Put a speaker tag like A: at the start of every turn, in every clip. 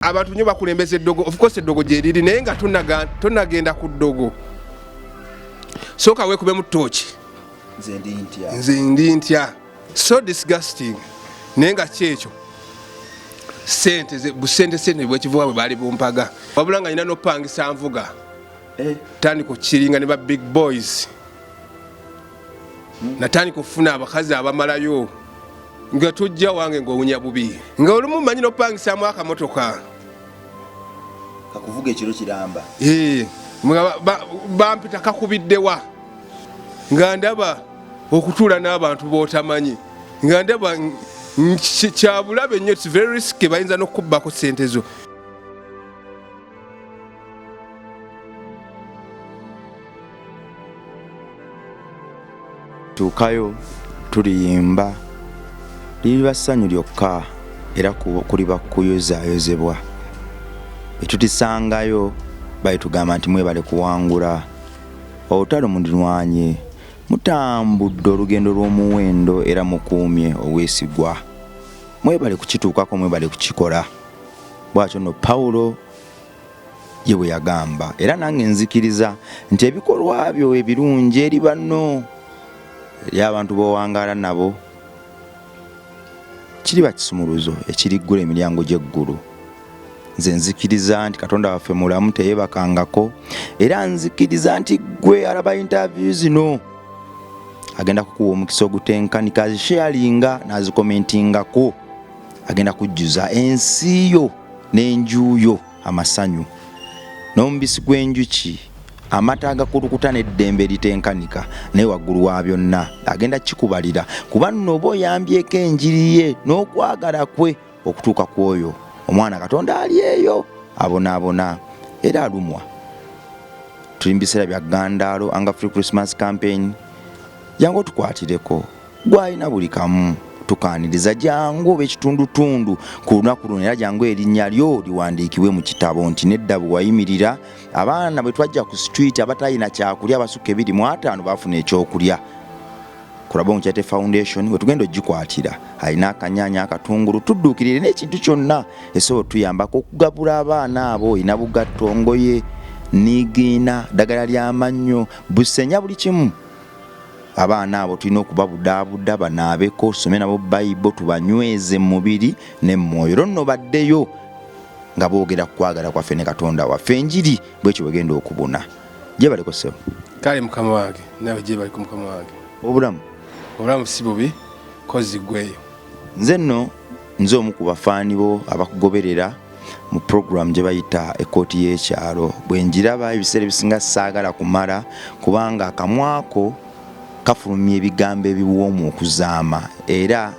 A: abantu nyo bakulembeza eddogo of course eddogo gyeriri naye nga tonagenda ku ddogo sooka weekubemu tooki nze ndi ntya so disgusting naye nga kyekyo sente busente sente bwekivuwa bwe baali bumpaga wabula nga nyina nopangisa nvuga eh. tandika okukiringa ne ba big boys natandika okufuna abakazi abamalayo nga tojja wange ngaowunya bubi nga olumu manyi nopangisamu akamotoka
B: kakuvuga ekiro kiramba
A: bampita kakubiddewa nga ndaba okutuula n'abantu botamanyi nga ndaba kyabulabe nnyo very risky bayinza nokukubbako sente zo
B: tuukayo tuliyimba liriba ssanyu lyokka era kuliba kuyozayozebwa etutisangayo balitugamba nti mwebale kuwangula olutalo mulirwanye mutambudde olugendo lw'omuwendo era mukuumye obwesigwa mwebale kukituukako mwebale kukikola bwatyo no pawulo ye bwe yagamba era nange nzikiriza nti ebikolwa byo ebirungi eri banno eri abantu b'owangaala nabo kiriba kisumuluzo ekiriggula emiryango gy'eggulu nze nzikiriza nti katonda waffe mulamu teyebakangako era nzikiriza nti gwe alaba intavyu zino agenda kukuwa omukisa ogutenkanika azisheyalinga n'azikomentingako agenda kujjuza ensi yo n'enju yo amasanyu n'omubisi gw'enjuki amata agakulukuta n'eddembe eritenkanika naye waggulu wa byonna agenda kikubalira kuba nno oba oyambyeko enjiri ye n'okwagala kwe okutuuka ku oyo omwana katonda ali eyo abonaabona era alumwa tuli mu biseera bya gandaalo anga free christmas campaign yange otukwatireko gwalina buli kamu tukaniriza jangu oba ekitundutundu ku lunaku luno era jangu erinnya lyo liwandiikibwe mu kitabo nti nedda bwe wayimirira abaana bwe twajja ku situiti abatalina kyakulya abasukka ebiri mu ataano baafuna ekyokulya kulaba omukyate foundation wetugenda ogikwatira alina akanyanya akatungulu tudduukirire n'ekintu kyonna esobola otuyambako okugabula abaana abo olina bugatto ngoye nigiina ddagala ly'amannyo busenya buli kimu abaana abo tulina okubabudaabuda banaabeko tusome nabo bayibo tubanyweze mu mubiri ne mu mwoyo olwo nno baddeyo nga boogera ku kwagala kwaffe ne katonda waffe enjiri bwekyo bwegenda okubuna gyebaliko sebo kale mukama wange
A: nawe gyebaliko mukama wange obulamu obulamu si bubi kozi gweyo nze nno
B: nze omu ku bafaani bo abakugoberera mu program gye bayita ekkooti y'ekyalo bwe njiraba ebiseera ebisinga saagala kumala kubanga akamwako kafulumya ebigambo ebiwoomu okuzaama era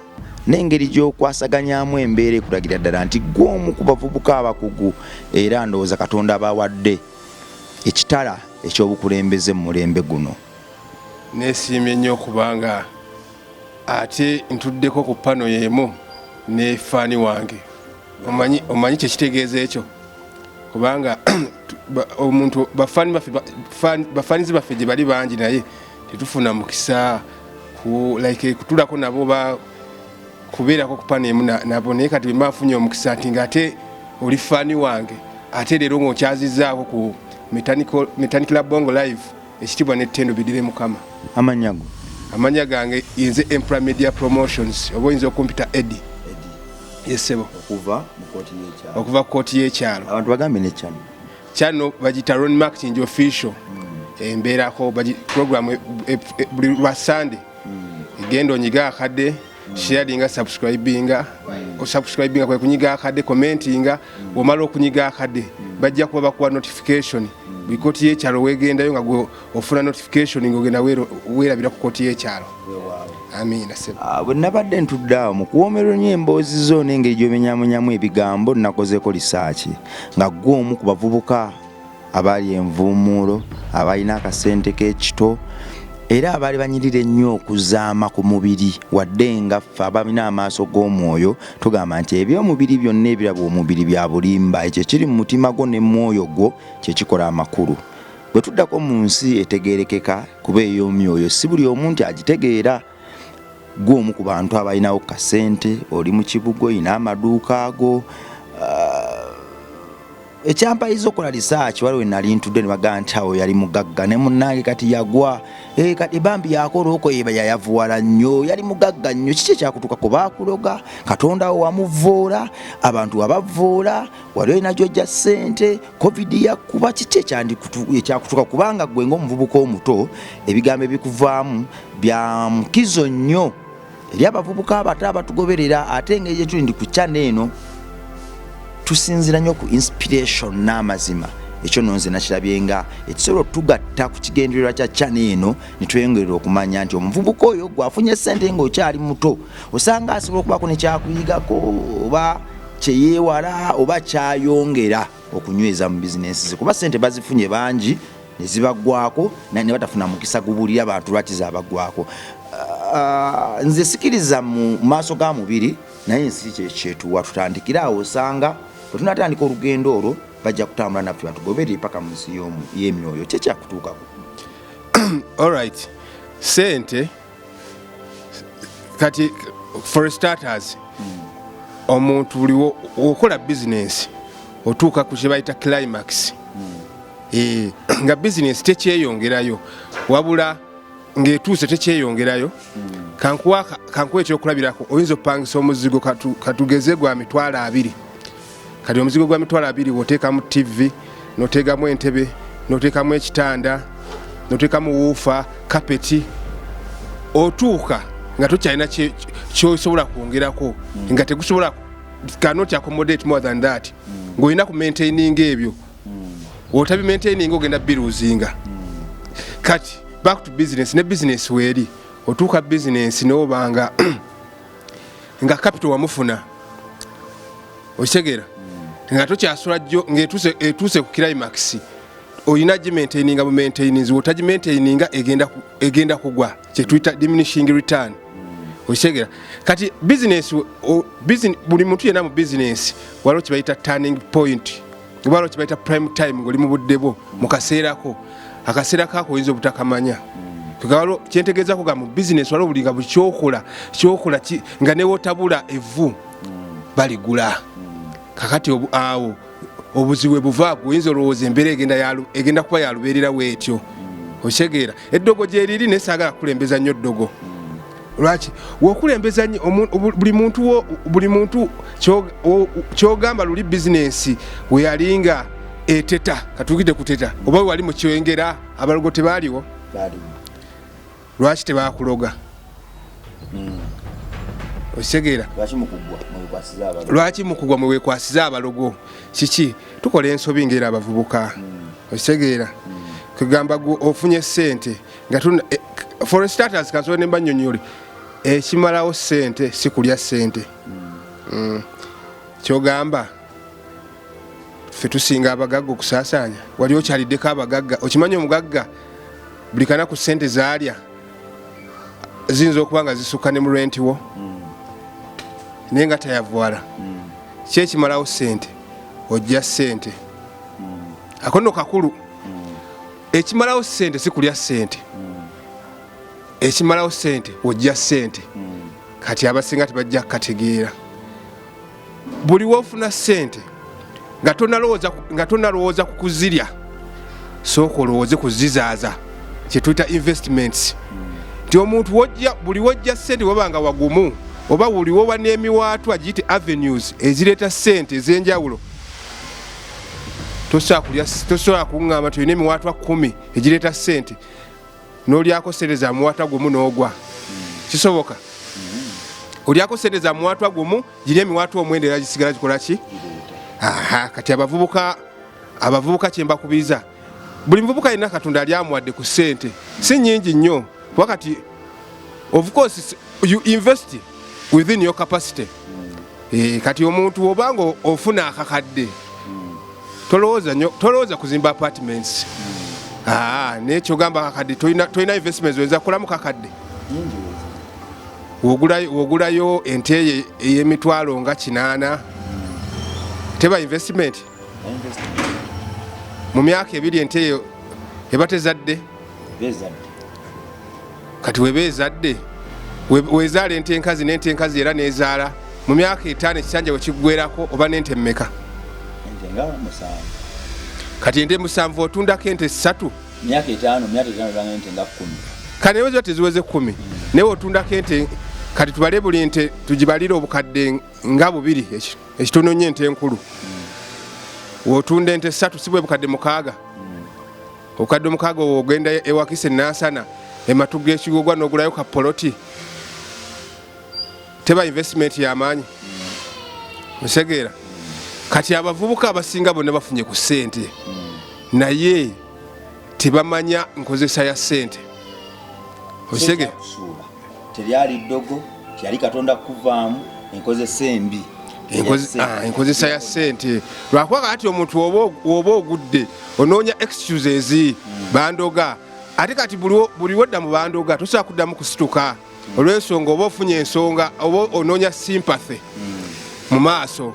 B: n'engeri gy'okwasaganyamu embeera ekulagira ddala nti gw'omu ku bavubuka abakugu era ndowooza katonda abawadde ekitala ekyobukulembeze mu mulembe guno nesiimye
A: nnyo okubanga ate ntuddeko ku pano y'emu ne faani wange omanyi omanyi kyekitegeeza ekyo kubanga omuntu bafanizi baffe gye bali bangi naye tetufuna mukisa like kutulako nabo ba kubeerako kupaneemu nabo naye kati bemba nfunye omukisa nti nga ate oli fani wange ate leero ngaokyazizaako ku metanikla bongo live ekitibwa ne tendo bidire mukama amanya go amanya gange inze empire media promotions obo inze okumpita edi yesebo okuva mukoti yekyalo okuva koti yekyalo abantu bagambe ne chano
B: chano
A: bajita ron mark chinjo official mm. emberako baji program e, e, e, buli lwa sunday mm. gendo nyiga akade sharinga subscribinga osubscribinga kwe kunyiga akade commentinga omala okunyiga akade bajja kuba bakuwa notification buli koti yekyalo wegendayo nga gwe ofuna notification ngaogenda werabira ku koti yekyalo amiina sebo ah, bwe nabadde ntudde
B: awo mu kuwoomerwa nnyo emboozi zo n'engeri gy'omenyamunyamu ebigambo nnakozeeko lisaaki nga ggwe omu ku bavubuka abaali envuumuulo abalina akasente k'ekito era abaali banyirira ennyo okuzaama ku mubiri wadde nga ffe abalina amaaso g'omwoyo tugamba nti eby'omubiri byonna ebiraba omubiri bya bulimba ekyo ekiri mu mutima gwo ne mwoyo gwo kye kikola amakulu bwe tuddako mu nsi etegeerekeka kuba ey'omyoyo si buli omu nti agitegeera gw'omu ku bantu abalinawo kasente oli mu kibuga olina amaduuka ago uh, ekyampayiza okola risaaki waliwo enali ntudde ne bagamba nti awo yali mugagga ne munnange kati yagwa eh, kati bambi yakola okweba yayavuwala nnyo yali mugagga nnyo kiki ekyakutuuka ku baakuloga katonda wo wamuvvoola abantu wabavvoola wali olina gyojja ssente covid yakkuba kiki ekyakutuuka kubanga gwe ngaomuvubuka omuto ebigambo ebikuvaamu bya mukizo nnyo eri abavubuka abato abatugoberera ate engeri gyetuli ndi ku chana eno tusinzira nnyo ku inspiration n'amazima ekyo no nze nakirabye nga ekisobola otugatta ku kigendererwa kya chana eno netweyongerera okumanya nti omuvubuka oyo gwafunye sente nga okyali muto osanga asobola okubaako nekyakuyigako oba kyeyeewala oba kyayongera okunyweza mu bizinensi ze kuba sente bazifunye bangi nezibagwako naye nebatafuna mukisa gubulira bantu lwaki zabagwako ah, nze sikiriza mu maaso ga mubiri naye ensi kyekyetuwa tutandikire awo osanga bwetunatandika olugendo olwo bajja kutambula naffe batugobere paka mu nsi yemyoyo kyekyakutuukako
A: alright sente kati for starters omuntu buli okola bizinensi otuuka ku kyebayita climax eh, nga bizinensi tekyeyongerayo wabula ng'etuuse tekyeyongerayo kankuwa ekyokulabirako oyinza opangisa omuzigo katugeze gwa mitwalo abiri kati omuzigo gwa mitwalo abiri woteekamu ttivi noteekamu entebe noteekamu ekitanda noteekamu wuufa kapeti otuuka nga tokyalina kyosobola kwongerako mm. nga tegusobola cannot accommodate more than that mm. ng'olina ku maintaining ebyo mm. otabi maintaining ogenda biruzinga kati back to business ne business weeri otuuka business nobanga nga kapito wamufuna okitegeera nga tokyasula jjo ngaetuuse ku climax olina gimaintaininga bu maintainings wotagimaintaininga egenda kugwa kyetuyita diminishing return okitegeera kati business buli muntu yena mu business waliwo kyebayita turning point oba lwaki bayita prime time ngoli mu budde bwo mu kaseera ko akaseera kako oyinza obutakamanya kalo kyentegeezako ga mu bizinesi waliwo buli nga buli kyokola kyokola nga newotabula evvu baligula kakati awo obuzibu bwe buvaaku oyinza olowooza embeera egenda kuba yalubeerera weetyo okitegeera eddogo gyeriri naye saagala kukulembeza nnyo ddogo lwaki wokulembeza buli muntu buli muntu kyogamba luli bizinensi weyalinga eteta katugide kuteta oba wewali mukyengera abalogo tebaaliwo lwaki tebakuloga hmm. okitegeera lwaki mukugwa mwewekwasiza abalogo kiki tukola ensobi ngera abavubuka okitegeera kugamba gwe ofunye sente nga eh, for starters kansobe ne banyonyole ekimalawo sente si kulya sente mm. kyogamba ffe tusinga abagagga okusaasaanya wali okyaliddeko abagagga okimanyi omugagga buli kanaku sente zaalya ziyinza okuba nga zisukka ne mu renti wo mm. naye nga tayavwala mm. kyekimalawo sente ojja sente akono kakulu ekimalawo sente sikulya sente ekimalawo sente ojja sente kati abasinga tebajja kukategeera buli wofuna sente nga tonalowooza ku kuzirya sooka olowooze kuzizaaza kyetuyita investments nti omuntu wojja buli wojja sente wabanga wagumu oba buli woba n'emiwaatwa giyite avenues ezireeta sente ez'enjawulo tosobola kuŋŋamba nti olina emiwaatwa kumi egireeta sente n'olyako sente za muwaatwa gumu n'ogwa kisoboka olyako sente za muwaatwa gumu giri emiwaatwa omwenda era gisigala gikola ki kati abavubuka abavubuka kyembakubiza buli muvubuka yenna katonda yali amuwadde ku ssente si nyingi nnyo kuba kati of course you invest within your capacity e, kati omuntu obanga ofuna akakadde tolowooza kuzimba apartments ah, naye kyogamba kakadde tolina investments oyinza kukolamu kakadde wogulayo ente eyemitwalo nga kinaana teba investment mu myaka ebiri ente eyo eba tezadde kati weba ezadde wezaala ente enkazi nente enkazi era nezaala mu myaka etaano ekisanja wekiggwerako oba nente mumeka
B: kati
A: ente musanvu otundako ente ssatu
B: kati naye ziba
A: teziweze kumi hmm. naye otundako ente kati tubale buli nte tugibalire obukadde nga bubiri ekyo ekitono nnyo ente enkulu wotunda ente satu si bwe bukadde mukaaga obukadde omukaaga owo ogenda ewakisa enansana ematu g'ekigogwa n'ogulayo ka poloti teba investment yamaanyi osegeera kati abavubuka abasinga bonna bafunye ku ssente naye tebamanya nkozesa ya sente osege
B: telyali ddogo kyali katonda kukuvaamu enkozesa embi ah,
A: enkozesa ya sente lwakuba kati omuntu woba ogudde onoonya excuses hmm. bandoga ate kati buli wedda mu bandoga tosobola kuddamu kusituka olw'ensonga oba ofunye ensonga oba onoonya sympathy mu maaso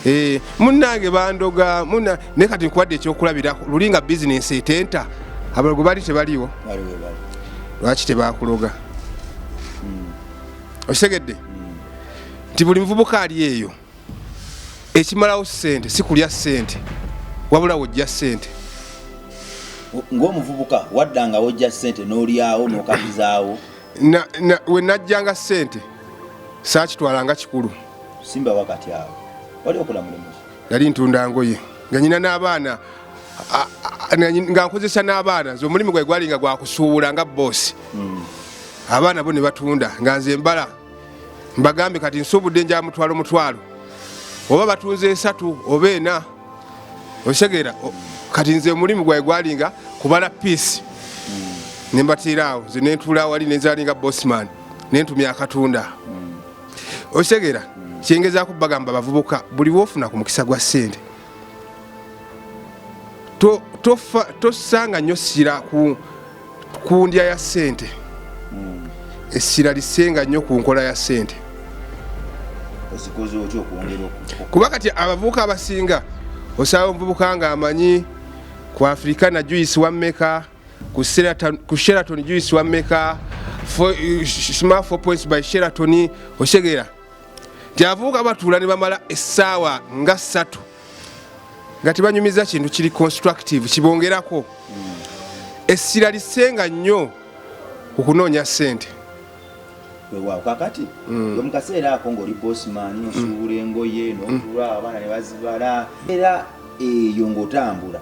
A: eh, munnange bandoga muna naye kati nkuwadde ekyokulabirako luli nga bizinensi etenta abalogo bali tebaliwo lwaki tebakuloga hmm. okitegedde hmm. nti buli muvubuka ali eyo ekimalawo sente sikulya sente wabula wojja sente ngaomuvubuka
B: wadda nga wojja sente nolyawo nokabizaawo
A: wenajjanga sente sakitwalanga kikulu simba wakati
B: awo wali okola mulimu nali ntunda
A: ngoye nga nyina n'abaana nga nkozesa n'abaana nze omulimu gwe gwalinga gwakusuubula nga boosi hmm. abaana bo ne batunda nga nze mbala mbagambe kati nsuubudde nja mutwalo mutwalo oba batunze esatu oba ena okitegera kati nze omulimu gwae gwalinga kubala piisi nembatiiraawo nze nentuula wali nenzalinga bosman nentumya akatunda okitegera kyengezaako bagamba bavubuka buli wofuna ku mukisa gwa ssente tossanga nnyo ssira ku ndya ya ssente hmm. essira lisenga nnyo ku nkola ya ssente kuba kati abavubuka abasinga osaba omuvubuka nga amanyi ku afrikana juice wammeka ku sheraton juice wammeka smart 4 points by sheraton osegeera nti abavubuka batuula ne bamala essaawa nga ssatu nga tebanyumiza kintu kiri constructive kibongerako essira lisenga nnyo okunoonya ssente weewaawo
B: kakati mm. mu kaseera ako ng'oli bosman mm. osuubula engoye mm. n'otula abaana ne bazibala era eyo ng'otambula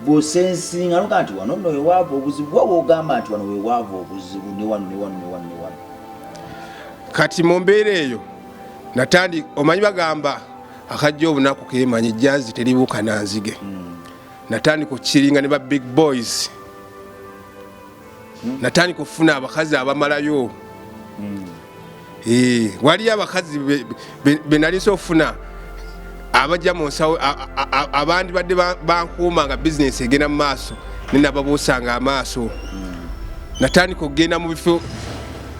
B: bwosensinga noga nti wano nno wewaavu obuzibu wa wogamba nti wano wewaavu obuzibu newano newano newano
A: newano kati mu mbeera eyo natandi omanyi bagamba akajja obunaku kemanyi jazi teribuuka nanzige mm. natandika okukiringa ne ba big boys hmm. natandika okufuna abakazi abamalayo hmm. eh, waliyo abakazi benalisa okufuna abajja mu nsawo abandi badde bankuuma nga bizinesi egenda mu maaso nenababuusanga amaaso hmm. natandika okugenda mu bifo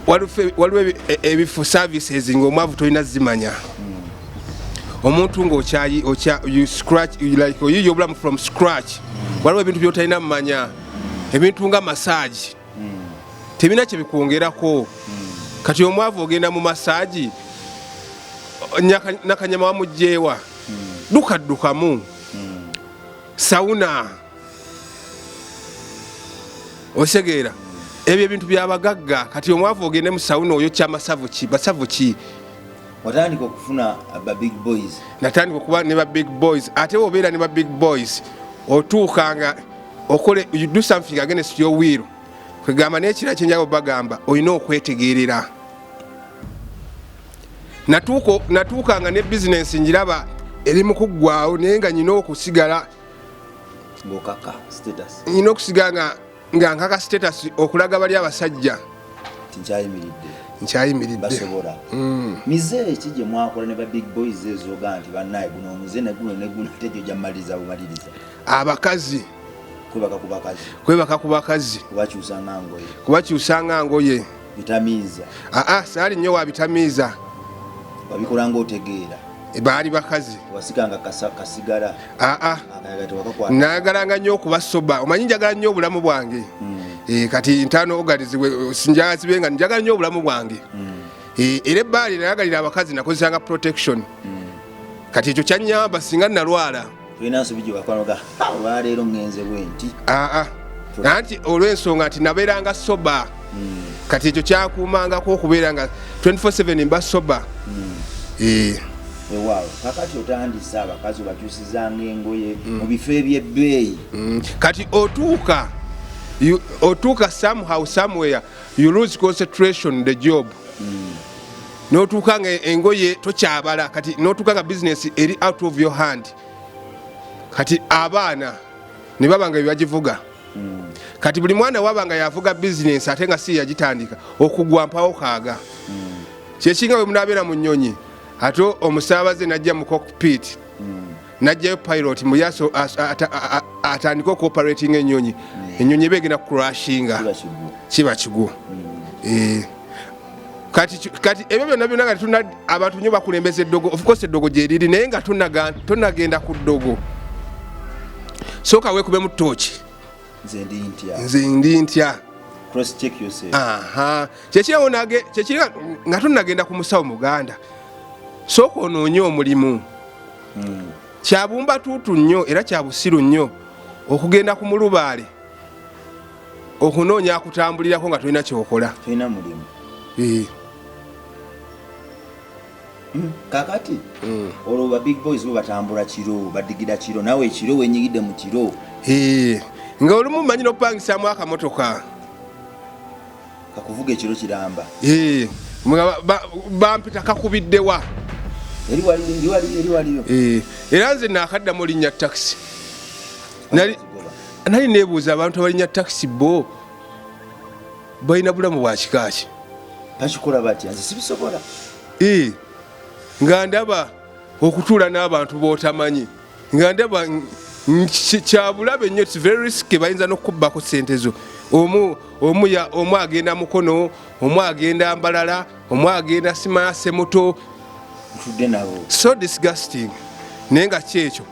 A: waliwo e, e, ebifo services ngaomwavu tolina zimanya omuntu ngaoyiye obulamu from scratch waliwo ebintu byotalina mumanya ebintu nga masaagi tebina kyebikwongerako kati omwavu ogenda mu masaagi nakanyama wamugyewa dukaddukamu sauna osegeera ebyo ebintu byabagagga kati omwavu ogende mu sauna oyo kyamasavu ki basavu ki watandika
B: okufuna ba big boys natandika okuba ne ba
A: big boys ate wobeera ne ba big boys otuukanga okole you do something against your will kwegamba nekira kyenjaga bagamba olina okwetegerera natuuka nga ne bizinensi njiraba eri mukuggwawo naye nga nyina okusigala nyina okusigala nga nkaka status okulaga bali abasajja nkyayimiridde mm.
B: mize eki gyemwakola ne ba big boys ezoga nti banaye guno omuze neguno neguno tegyo gyamaliriza bumaliriza abakazi
A: kwebaka ku bakazi kubakyusa nga ngoye
B: aa saali nnyo
A: wabitamiiza
B: wabikolanga otegeera e, baali bakazi aa
A: nayagalanga nnyo okubasoba omanyi njagala nnyo obulamu bwange hmm. e, kati ntano ogalizibwe sinjazibe nga njagala nnyo obulamu bwange hmm. e, era ebbaali nayagalira abakazi nakozesanga protection hmm. kati ekyo kyanyamba singa nalwala tulina nsobi gye wakwanoga olwaleero ŋŋenze bwe nti aa nanti olw'ensonga nti nabeeranga soba hmm. kati ekyo kyakuumangako okubeera nga 24/7 mba soba hmm. eh. ewaawo
B: kakati otandise abakazi obakyusizanga engoye hmm. mu bifo eby'ebbeeyi kati
A: otuuka otuuka somehow somewhere you lose concentration the job notuuka nga engoye tokyabala kati notuuka nga business eri out of your hand kati abaana ne baba nga byebagivuga kati buli mwana waba nga yavuga business ate nga si yagitandika okugwa mpawo kaaga kyekinga bwe munaabeera mu nnyonyi ate omusaabaze najja mu cockpit najjayo pilot mbu yaso atandika okuoperatinga enyonyi enyonyi eba egenda kucrashinga kiba kigwo eh. kati ebyo byonna byonna nga tetuna abantu nyo bakulembeza eddogo ofcourse eddogo gyeriri naye nga tonagenda ku ddogo sooka wekubemu tooki nze ndi ntya kyekiriwo nga tonagenda ku musawo muganda sooka onoonye omulimu hmm. kyabumba tuutu nnyo era kyabusiru nnyo okugenda ku mulubaale okunoonya akutambulirako nga tolina kyokola eh. hmm,
B: kakati hmm. olwo ba big boys bo batambula kiro badigira kiro nawe ekiro wenyigidde mu kiro eh.
A: nga olumu manyi nopangisamu akamotoka kakuvuga
B: ekiro kiramba eh
A: bampita kakubiddewa eri wali
B: eri wali eri wali eh era nze
A: nakadda mu linya taxi nali nali nebuza abantu abalinya taxi bo bayina bulamu bwa kikaaki bakikola
B: batya nze sibisobola eh nga
A: ndaba okutuula n'abantu botamanyi nga ndaba kyabulabe nnyo its very risky bayinza n'okukubbako sente zo omu omu ya omu agenda mukono omu agenda mbalala omu agenda simaya semuto so disgusting naye nga kyekyo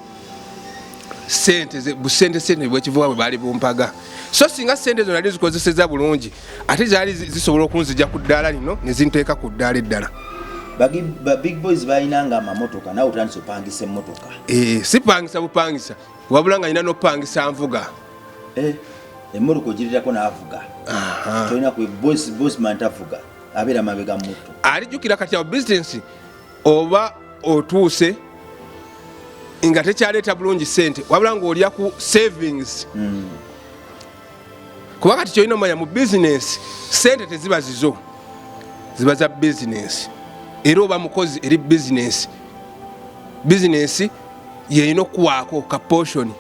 A: sente busente sente bwekivuga bwe baali bumpaga so singa sente zo nali zikozeseza bulungi ate zaali zisobola okunzija ku ddaala lino ne zinteeka ku ddaala eddala ba
B: big boys balinanga amamotoka nawe otandisa opangisa emotoka eh, sipangisa
A: bupangisa wabula nga nina nopangisa nvuga eh,
B: emotoka ogirirako navuga tolina bosman tavuga abeera mabega muto alijukira kati awo
A: bisinesi oba otuuse nga tekyaleeta bulungi sente wabula ngaolya ku savings mm. kuba kati kyolina omanya mu bizinensi sente teziba zizo ziba za bizinensi era oba mukozi eri bizinensi bizinensi yeyina okuwaako ka poshoni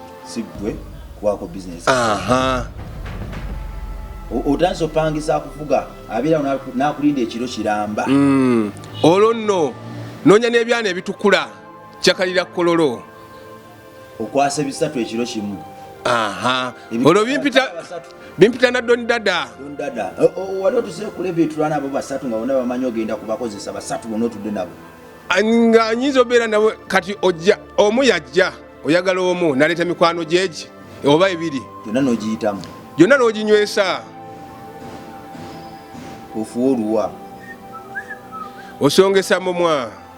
B: otansi opangisa kuvuga abeera nakulinda ekiro kiramba mm. olwo
A: nno noonya n'ebyana ebitukula kyakalira kololo
B: okwasa ebisatu ekiro kimu aha
A: olwo bimpita bimpita na don dada don dada wali
B: otuse kule bitulana abo basatu nga bona bamanyi ogenda kubakozesa basatu bona otudde nabo nga anyinza
A: obeera nabo kati ojja omu yajja oyagala omu naleeta mikwano gyegi oba ebiri yonna nogiyitamu
B: yonna noginywesa ofuwa oluwa osongesa
A: mumwa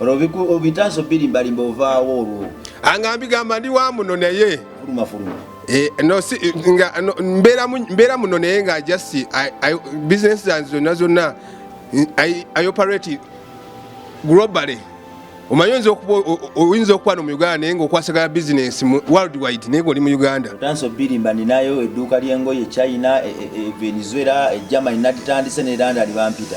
A: obitaso
B: birimbarimba ovaawo olwo anga mbigamba ndi
A: wa muno naye
B: eh,
A: mbeera muno naye nga just business zange zonna zonna i operate globally omanyi oyinza okuba oyinza okuba no mu uganda naye ngaokwasagala bizinensi world wide naye ngaoli mu uganda otansi obirimba
B: ninayo edduuka ly'engoye china e, e, e, venezuela egermany naditandise ne london bampita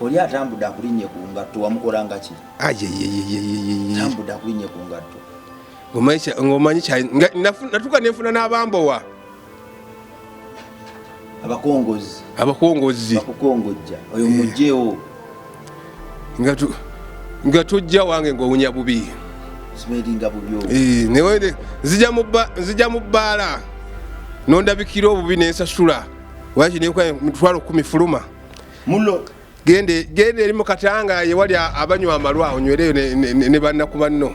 A: Oli atambudde
C: akulinnye ku ngatto wamukolangaki? Tambudde akulinnye ku ngatto ng'omanyi
A: natuka nenfuna n'abambowa
C: abakongozi abakongozi bakukongojja oyo eh. mugyewo
A: nga tujja wange ng'owunya bubi
C: eh,
A: nzija mu bbaala nondabikira obubi nensasula waki netwala okumi fuluma mulo
C: gende
A: gende eri mukatanga ye wali abanywa amalwa onywereyo ne, ne, ne, ne banna ku banno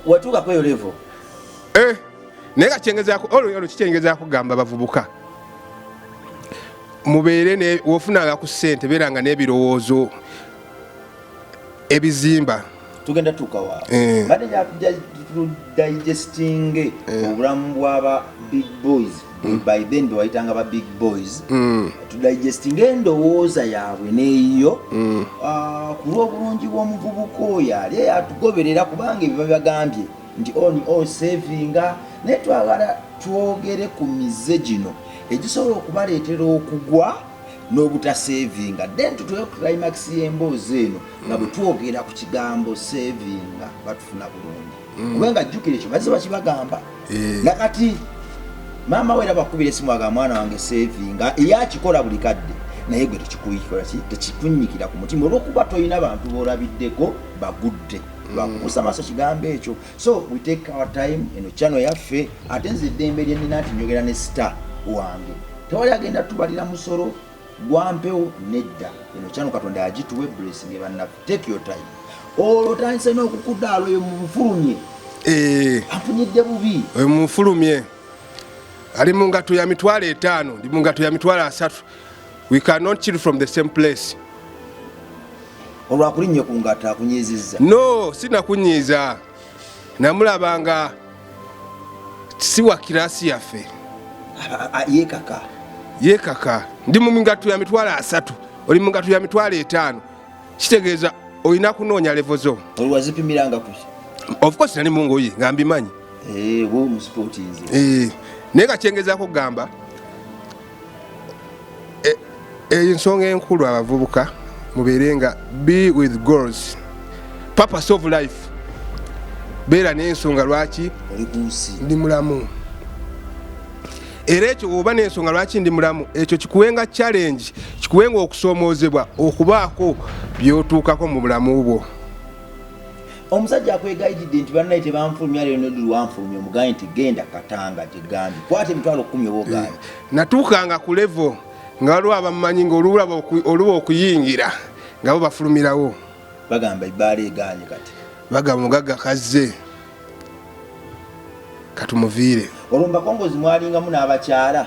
C: watuuka kweyo levo eh,
A: naye kakyengezako olwo olwo kikyengezako kugamba bavubuka mubeere wofunanga ku ssente beeranga n'ebirowoozo ebizimba tugenda tukawa
C: eh. bade ya digesting eh. obulamu bwa ba big boys mm. by then be waitanga ba big boys mm. to digesting endowooza yaabwe neyiyo mm. ah, ku lw'obulungi bw'omuvubuka oyo ali eyatugoberera kubanga ebyo babagambye nti on oh, oh, savinga naye twagala twogere ku mize gino egisobola okubaleetera okugwa n'obutaseevinga then tutuuka ku climax y'emboozi eno nga bwe twogera ku kigambo seevinga batufuna bulungi mm. kubanga jjukira ekyo bazze bakibagamba eh. nakati maama we era bakubira esimu aga mwana wange seevinga eyakikola buli kadde naye gwe tekikuyikolaki tekikunyikira ku mutima olwokuba tolina bantu bolabiddeko bagudde bakukusa mm. maaso kigambo ekyo so we take our time eno chano yaffe ate nze eddembe lye nnina nti njogera ne star wange tewali agenda tubalira musolo gwampewo nedda eno chano katonda yagituwa eblessing ebannaffe take your time olwo tandise n'okukudaala oyo mumufulumye eh. afunyidde bubi oyo mumufulumye
A: ali mu ngato ya mitwalo etaano ndi mu ngato ya mitwalo asatu we cannot chill from the same place olwakulinnye
C: ku ngata akunyiizizza no sinakunyiiza
A: namulaba nga si wa kirasi yaffe yekaka yekaka ndi mu migato ya mitwalo asatu oli mu migato ya mitwalo etaano kitegeeza olina kunoonya levo zo oliwazipimiranga ku
C: ofcourse nali
A: mungoye nga mbimanyi
C: eh, eh, naye nga kyengezaako
A: kugamba e, ensonga enkulu abavubuka mubeere nga be with goals purpose of life beera n'ensonga lwaki ndi mulamu era ekyo oba n'ensonga lwaki ndi mulamu ekyo kikuwenga challenge kikuwenga okusoomoozebwa okubaako byotuukako mu bulamu bwo
C: omusajja akwegayididde nti banaye tebanfulumya lero nodi lwanfulumya omugaye nti genda katanga gyegambye kwata emitwalo kumi oba ogaye eh, natuukanga ku
A: levo nga waliwo abamumanyi nga olulaba oluba okuyingira nga bo bafulumirawo bagamba ebbaala
C: eganye kati bagamba omugagga
A: kazze katumuviire olwo mubakongozi
C: mwalingamu n'abakyala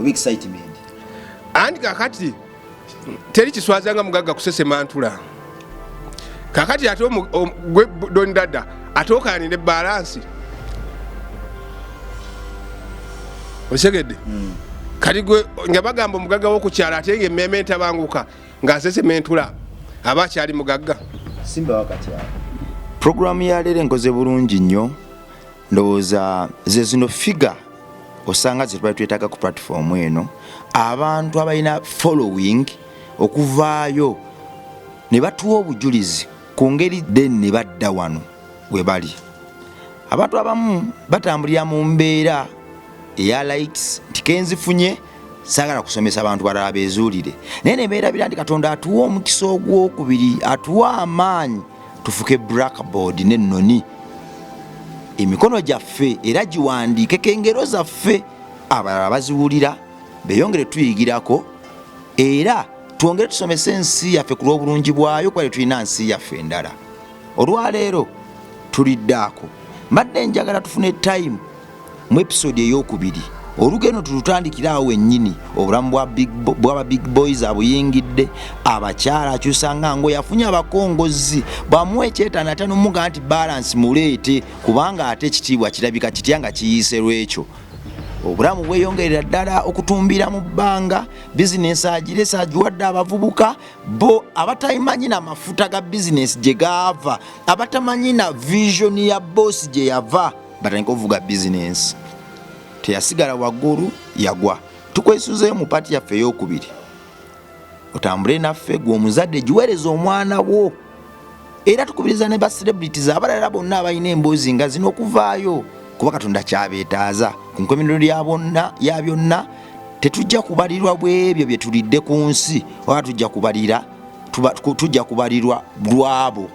C: oba excitement andi
A: kakati teri kiswaza nga mugagga kusesema ntula kakati ate gwe doni dada ate okanire balansi osegedde hmm. kati gwe nga bagamba omugagga wokukyala ate nga emmeeme entabanguka ngaasesema entula aba akyali mugagga
C: programu
B: yaleero enkoze bulungi nnyo ndowooza ze zino figure osanga zetubali twetaaga ku platform eno abantu abalina following okuvaayo ne batuwa obujulizi ku ngeri then ne badda wano we bali abantu abamu batambulira mu mbeera eya likes nti kenzifunye sagala kusomesa abantu balala bezuulire naye ne beerabira nti katonda atuwa omukisa ogwokubiri atuwa amaanyi tufuke blackboard n'ennoni emikono gyaffe era giwandiikeko engero zaffe abalala baziwulira beyongere tuyigirako era twongere tusomese ensi yaffe ku lw'obulungi bwayo kuba tetulina nsi yaffe endala olwaleero tulidde ako mbadde njagala tufune time mu episode eyokubiri olugendo tulutandikire awo wennyini obulamu bwaba big boys abuyingidde abakyala akyusa nga ngo yafunye abakongozzi bamuwa ekyetano ate nomuga nti balansi muleete kubanga ate ekitiibwa kirabika kitya nga kiyiise lwekyo obulamu bweyongerera ddala okutumbira mu bbanga bizinesi agiresa agiwadde abavubuka bo abatamanyi na mafuta ga bizinesi gye gaava abatamanyi na visioni ya boosi gye yava batandika ovuga bizinensi teyasigala waggulu yagwa tukwesuzeyo mu paati yaffe eyokubiri otambule naffe gwe omuzadde giweereza omwana wo era tukubiriza ne ba celebrities abalala bonna abalina emboozi nga zino okuvaayo kuba katonda kyabeetaaza ku nkomerero ya byonna tetujja kubalirwa bwebyo bye tulidde ku nsi oba tujja kubalira tujja kubalirwa lwabo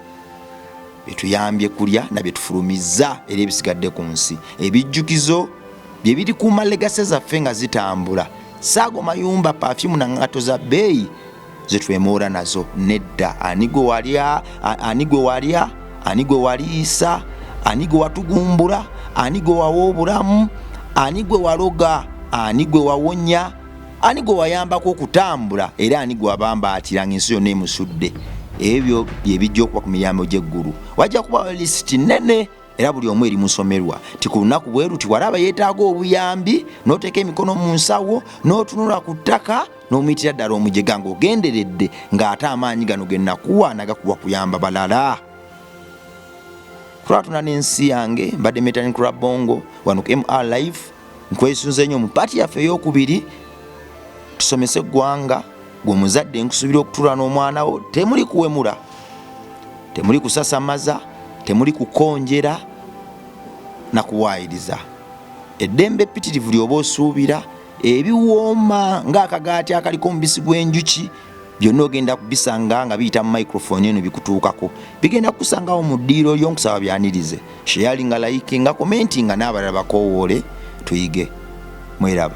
B: byetuyambye kulya na byetufulumizza era ebisigadde ku nsi ebijjukizo bye birikuuma legase zaffe nga zitambula saago mayumba pafyumu na ngato za bbeeyi zetwemoora nazo nedda ani gwe walya ani gwe walya ani gwe waliisa ani gwe watugumbula ani gwe wawa obulamu ani gwe waloga ani gwe wawonya ani gwe wayambako okutambula era ani gwe wabambaatira nga ensi yonna emusudde ebyo bye bijja okuba ku miryango gy'eggulu wajja kubawo lisiti nnene era buli omu eri musomerwa ti ku lunaku bwe luti walaba yeetaaga obuyambi n'oteeka emikono mu nsawo n'otunula ku ttaka n'omuyitira ddala omujega ng'ogenderedde ng'ate amaanyi gano ge nakuwa nagakuwa kuyamba balala kulwatuna n'ensi yange mbadde metani kulabongo wano ku mr life nkwesunze nnyo mu paati yaffe ey'okubiri tusomese eggwanga gwe omuzadde nkusuubira okutuula n'omwana wo temuli kuwemula temuli kusasamaza temuli kukonjera na kuwaayiriza eddembe ppitirivu lyoba osuubira ebiwooma ng'akagaati akaliko omubisi gw'enjuki byonna ogenda kubisanga nga biyita mu microphone eno bikutuukako bigenda kukusangawo mu ddiiro lyo nkusaba byanirize sheyali nga layike nga komenti nga n'abalala bakoowoole tuyige mweraba